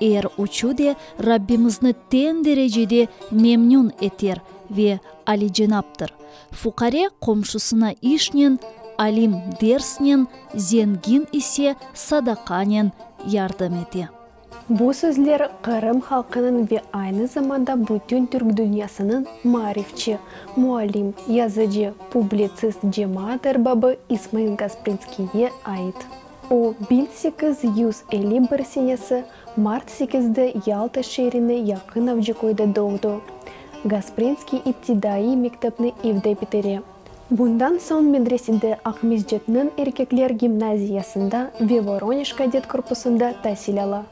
Er üçü de Rabbimizni teñ derecede memnün eter ve alicenaptır. Fuqare qomşusına işnen, alim dersnen, zengin ise sadaqanen yardım ete. Bu sözler Qırım halqınıñ ve aynı zamanda bütün Türk dünyasınıñ maarifçi, muallim, yazıcı, publitsist cemaat erbabı İsmail Gasprinskiyge ait. O, biñ sekiz yüz elli bir senesi mart sekizde Yalta şeerine yaqın Avcıköyde doğdı. Gasprinskiy iptidaiy mektepni evde bitere. Bundan soñ medresede, Aqmescitniñ erkekler gimnaziyasında ve Voronej kadet korpusında tasil ala.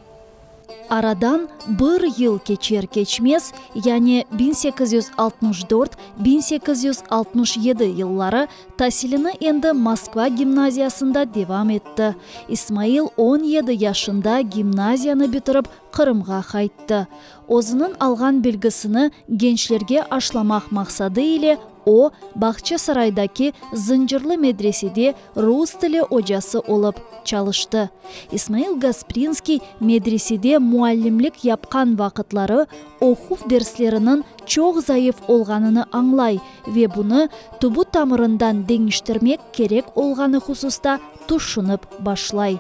Aradan bir yıl keçer-keçmez, yani biñ sekiz yüz altmış dört, biñ sekiz yüz altmış yedi yılları, tasilini endi Moskva gimnaziyasında devam etti. İsmail on yedi yaşında gimnaziyanı bitirip, Qırımğa qayttı. Özüniñ alğan bilgisini gençlerge aşlamaq maqsadı ile o, Bağçasaraydaki Zıncırlı medresede Rus tili ocası olıp çalıştı. İsmail Gasprinskiy medresede muallimlik yapqan vaqıtları oquv dersleriniñ çoq zayıf olğanını añlay ve bunı tubu-tamırından deñiştirmek kerek olğanı hususta tüşünip başlay.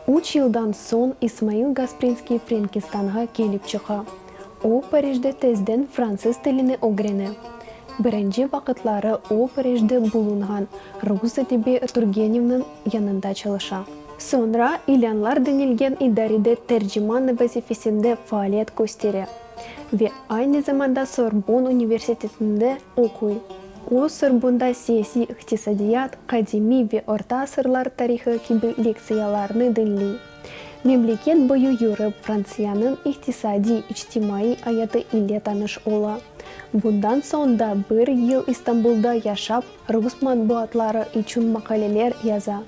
Üç yıldan soñ İsmail Gasprinskiy Frenkistanğa kelip çıqa. O, Parijde tezden fransız tilini ögrene. Birinci vaqıtları o, Parijde bulunğan rus edebi Turgenevniñ yanında çalışa. Soñra İlânlar denilgen idarede terciman vazifesinde faaliyet köstere ve aynı zamanda Sorbon universitetinde oquy. O, Sorbonda siyasiy iqtisadiyat, qadimiy ve orta asırlar tarihı kibi lektsiyalarnı diñley. Memleket boyu yürip, Frantsiyanıñ iqtisadiy, içtimaiy ayatı ile tanış ola. Bundan soñ da bir yıl İstanbulda yaşap, rus matbuatları içün maqaleler yaza.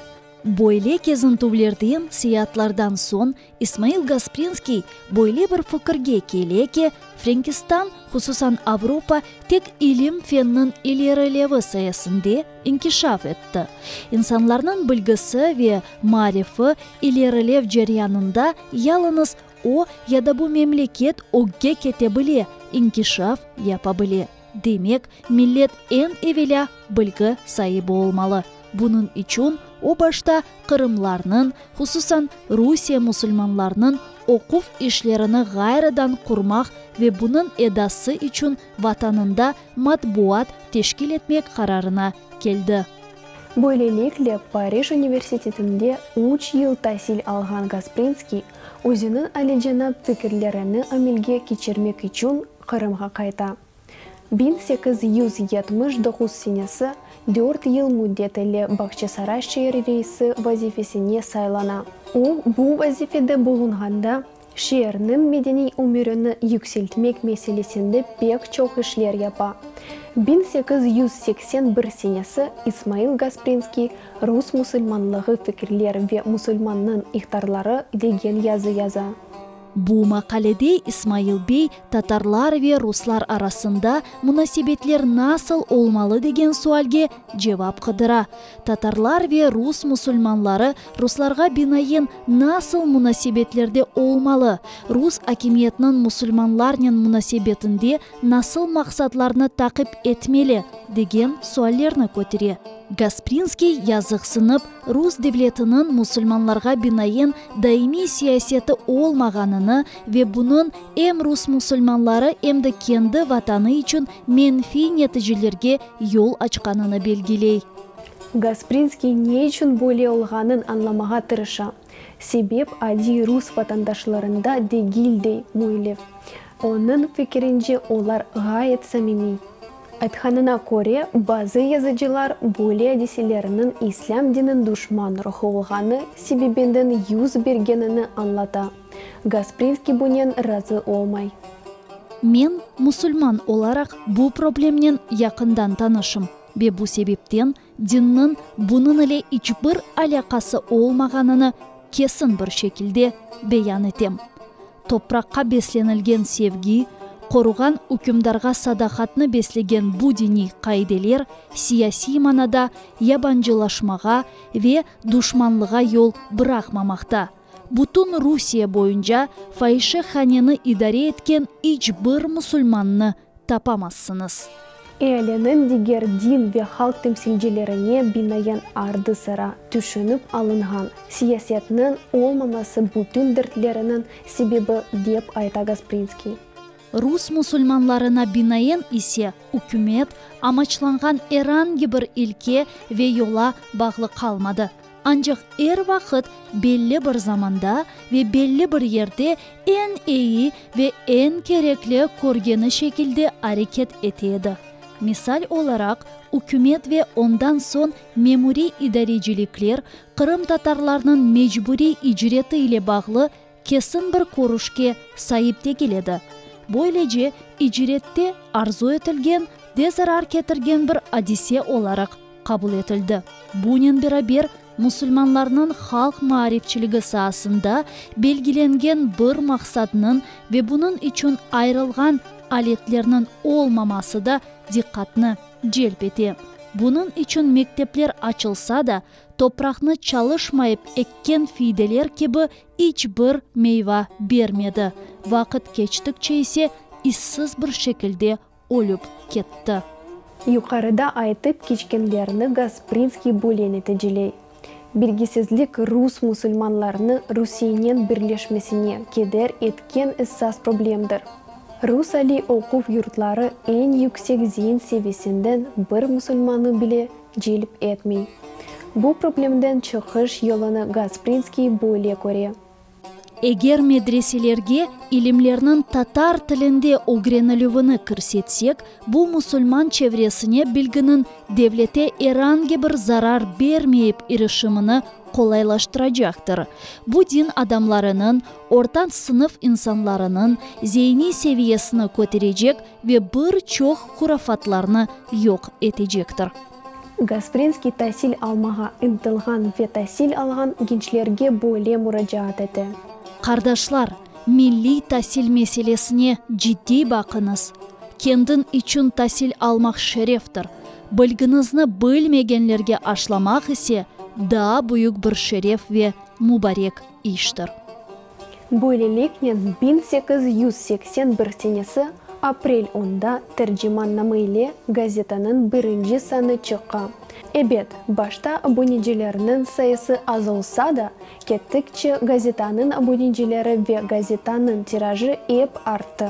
Böyle kezintüvlerden, seyaatlardan soñ İsmail Gasprinskiy böyle bir fikirge kele ki, Frenkistan, hususan Avropa, tek ilim-fennıñ ilerilevi sayesinde, inkişaf etti. İnsanlarnıñ bilgisi ve marifi ilerilev ceryanında yalıñız o ya da bu memleket ögge kete bile, inkişaf yapa bile. Demek, millet eñ evelâ bilgi saibi olmalı. Bunıñ içün o başta qırımlarnıñ, hususan Rusiye musulmanlarnıñ oquv işlerini ğayrıdan qurmaq ve bunıñ edası içün Vatanında matbuat teşkil etmek qararına keldi. Böylelikle, Parij universitetinde üç yıl tasil alğan Gasprinskiy, özüniñ alicenap fikirlerini amelge keçirmek içün Qırımğa qayta. Biñ sekiz yüz yetmiş doquz senesi dört yıl müddet ile Bağçasaray şeeri reisi vazifesine saylana. O, bu vazifede bulunğanda, Şeerniñ medeniy ömürini yükseltmek meselesinde pek çoq işler yapa. Biñ sekiz yüz seksen bir senesi İsmail Gasprinskiy Rus musulmanlığı fikirler ve Musulmannıñ ihtarları degen yazı yaza. Bu maqalede İsmail bey tatarlar ve ruslar arasında munasebetler nasıl olmalı degen sualge cevap qıdıra. Tatarlar ve rus musulmanları ruslarğa binayen nasıl munasebetlerde olmalı, rus akimiyetiniñ musulmanlarnen munasebetinde nasıl maqsatlarnı taqip etmeli, degen suallerni kötere. Gasprinskiy yazıqsınıp, rus devletiniñ musulmanlarğa binayen daimiy siyaseti olmağanını ve bunıñ em rus musulmanları, em de kendi vatanı içün menfiy neticelerge yol açqanını belgiley. Gasprinskiy ne içün böyle olğanın añlamağa tırışa, sebep adiy rus vatandaşlarında degil, dey Müellev. Onıñ fikirince, olar ğayet samimiy. Aytqanına köre, bazı yazıcılar böyle adiselerniñ islâm dinin duşman ruhu olğanı sebebinden yüz bergenini añlata. Gaspriyevskiy bunen razı olmay. Men, musulman olaraq, bu problemnen yaqından tanışım ve bu sebepten dinniñ bunıñ ile iç bir alâqası olmağanını kesin bir şekilde beyan etem. Topraqqa beslenilgen sevgi, qoruğan ükümdarğa sadaqatnı beslegen bu diniy qaideler siyasiy manada yabancılaşmağa ve duşmanlığa yol bıraqmamaqta. Bütün Rusiye boyunca fayişehaneni idare etken iç bir musulmannı tapamazsıñız. Ealiniñ diger din ve halq temsilcilerine binaen ardı-sıra tüşünip alınğan siyasetniñ olmaması bütün dertleriniñ sebebi, dep ayta Gasprinskiy. Rus musulmanlarına binaen ise, ükümet, amaçlanğan erangi bir ilke ve yola bağlı qalmadı, ancaq er vaqıt belli bir zamanda ve belli bir yerde eñ eyi ve eñ kerekli körgeni şekilde areket ete edi. Misal olaraq, ükümet ve ondan soñ memuriy idarecilikler qırımtatarlarnıñ mecburiy icreti ile bağlı, kesin bir körüşke saip degil edi. Böylece, icrette arzu etilgen ve zarar ketirgen bir adise olaraq qabul etildi. Bunen beraber, musulmanlarnıñ halq maarifçiligi saasında belgilengen bir maqsadnıñ ve bunıñ içün ayırılğan aletlerniñ olmaması da diqqatnı celp ete. Bunıñ içün mektepler açılsa da, Topraqnı çalışmayıp ekken fiydeler kibi iç bir meyva bermedi, vaqıt keçtikçe ise izsiz bir şekilde ölüp ketti. Yuqarıda aytıp keçkenlerni Gasprinskiy böyle neticiley, Bilgisizlik rus musulmanlarını Rusiyenen birleşmesine keder etken essas problemdir. Rus aliy oquv yurtları eñ yüksek zeyin seviyesinden bir musulmanı bile celp etmey. Bu problemden çıqış yolunı Gasprinskiy böyle köre. Eger medreselerge ilimlerniñ tatar tilinde ögrenilüvini kirsetsek, bu musulman çevresine bilginiñ devlete erangi bir zarar bermeyip irişimini qolaylaştıracaqtır. Bu din adamlarınıñ, orta sınıf insanlarınıñ, zeyniy seviyesini köterecek Ve bir çoq hurafatlarnı yoq etecektir. Gasprinskiy tasil almağa ıntılğan ve tasil alğan gençlerge böyle muracaat ete. Qardaşlar, milliy tasil meselesine ciddiy baqıñız. Kendin içün tasil almaq şereftir, bilginizni bilmegenlerge aşlamaq ise daa büyük bir şeref ve mubarek iştir. Böyleliknen, biñ sekiz yüz seksen bir senesi aprel onda Tercimanname ile gazetanıñ birinci sanı çıqa. Ebet, başta abonecilerniñ sayısı az olsa da, kettikçe gazetanıñ abonecileri ve gazetanıñ tirajı ep arttı.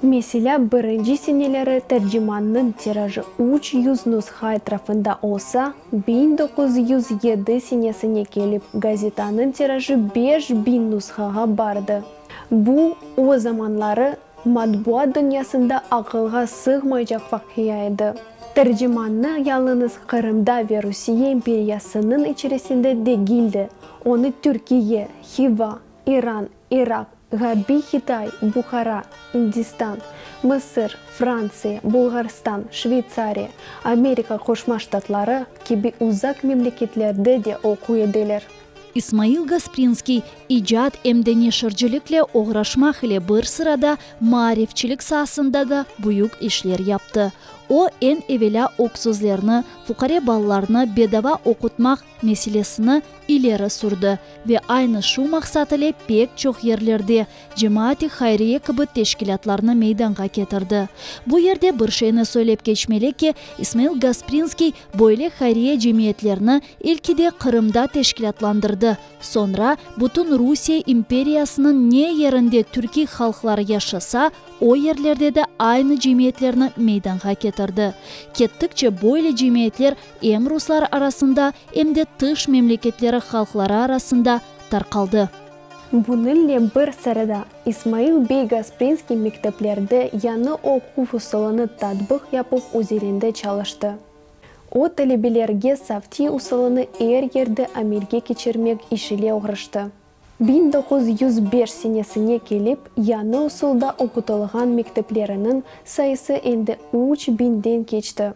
Meselâ, birinci seneleri tercimannıñ tirajı üç yüz nusha etrafında olsa, biñ doquz yüz yedi senesine kelip gazetanıñ tirajı beş biñ nushağa bardı. Bu, o zamanları matbuat dünyasında aqılğa sığmaycaq vaqia edi. Tercimannı yalıñız Qırımda ve Rusiye imperiyasınıñ içerisinde degil de, onı Türkiye, Hiva, İran, İraq, Ğarbiy Qitay, Buhara, İndistan, Mısır, Frantsiya, Bulğarstan, Şveytsariya, Amerika Qoşma Ştatları kibi uzaq memleketlerde de oquy ediler. İsmail Gasprinskiy icat em de neşircilikle oğraşmaq ile bir sırada maarifçilik saasında da büyük işler yaptı. O, eñ evelâ öksüzlerni, fuqare balalarnı bedava oqutmaq meselesini ileri sürdi ve aynı şu maqsat ile pek çoq yerlerde cemaat-i hayriye kibi teşkilâtlarnı meydanğa ketirdi. Bu yerde bir şeyni söylep keçmeli ki, İsmail Gasprinskiy böyle hayriye cemiyetlerini ilki de Qırımda teşkilâtlandırdı, soñra bütün Rusiye imperiyasınıñ ne yerinde türkiy halqlar yaşasa, o yerlerde de aynı cemiyetlerni meydanğa ketirdi. Kettikçe böyle cemiyetler Em ruslar arasında, em de tış memleketleri halqları arasında tarqaldı. Bunıñle bir sırada, İsmail bey Gasprinskiy mekteplerde yañı oquv usulını tatbıq yapıp üzerinde çalıştı. O, talebelerge savtiy usulını er yerde amelge keçirmek iş ile oğraştı. Biñ doquz yüz beş senesine kelip yañı usulda oqutılğan mektepleriniñ sayısı endi üç biñden keçti.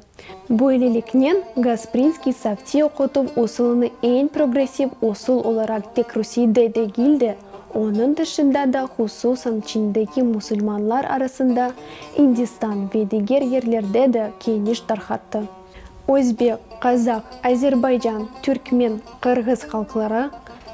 Böyleliknen, Gasprinskiy savtiy oqutuv usulını eñ progressiv usul olaraq tek Rusiyde degil de, onıñ tışında da, hususan Çindeki musulmanlar arasında, İndistan ve diger yerlerde de, keniş tarqattı. Özbek, qazaq, azerbaycan, türkmen, qırğız halqları,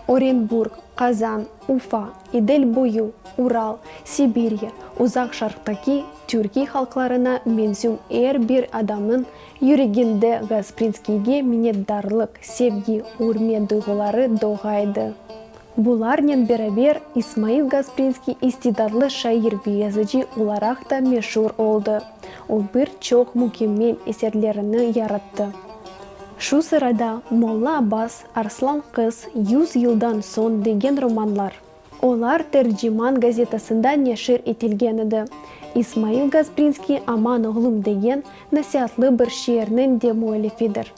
Orenburg, Qazan, Ufa, İdil boyu, Ural, Sibirya, Uzaq Şarqtaki türkiy halqlarına mensüm er bir adamnıñ yüreginde Gasprinskiyge minnetdarlıq, sevgi, ürmet duyğuları doğaydı. Bularnen beraber, İsmail Gasprinskiy istidadlı şair ve yazıcı olaraq da meşur oldı. O bir çoq mükemmel eserlerini yarattı. Şu sırada Molla Abbas, Arslan qız, Yüz yıldan soñ degen romanlar. Olar Terciman gazetasında neşir etilgen edi. İsmail Gasprinskiy Aman oğlum degen nasiatlı bir şiirniñ de müellifidir.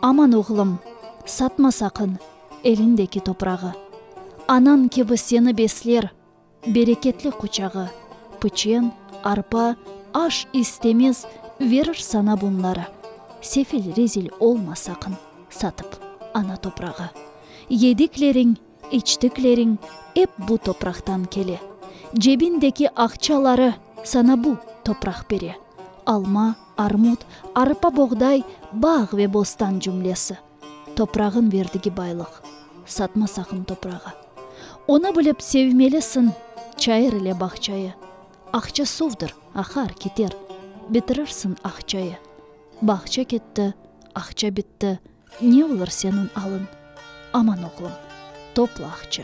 Aman oğlum, satma saqın, Elindeki toprağı. Anañ kibi seni besler, bereketli quçağı, piçen, arpa, aş istemez, verir sana bunları. Sefil, rezil olma saqın, satıp ana toprağı. Yedikleriñ, içtikleriñ ep bu topraqtan kele. Cebindeki aqçaları sana bu topraq bere. Alma, armut, arpa-boğday, bağ ve bostan cümlesi. Toprağın verdigi baylıq. Satma saqın toprağı. Onı bilip sevmelisiñ, Çayır ile bağçayı. Aqça suvdır, aqar, keter, Bitirirsiñ aqçayı. Bağça ketti, aqça bitti, Ne olur seniñ alıñ? Aman, oğlum, topla aqçı,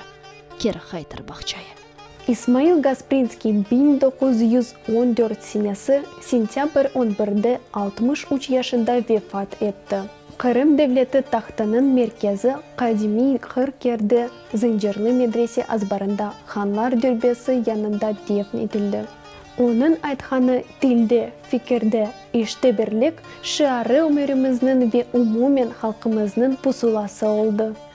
Keri qaytır bağçayı. İsmail Gasprinskiy biñ doquz yüz on dört senesi sentâbr on birde altmış üç yaşında vefat etti. Qırım devleti tahtınıñ merkezi qadimiy Qırk Kerdi Zıncırlı medrese azbarında Hanlar dürbesi yanında defn etildi. Onıñ aytqanı tilde, fikirde, işte birlik şiarı ömürimizniñ ve umumen halqımıznıñ pusulası oldı.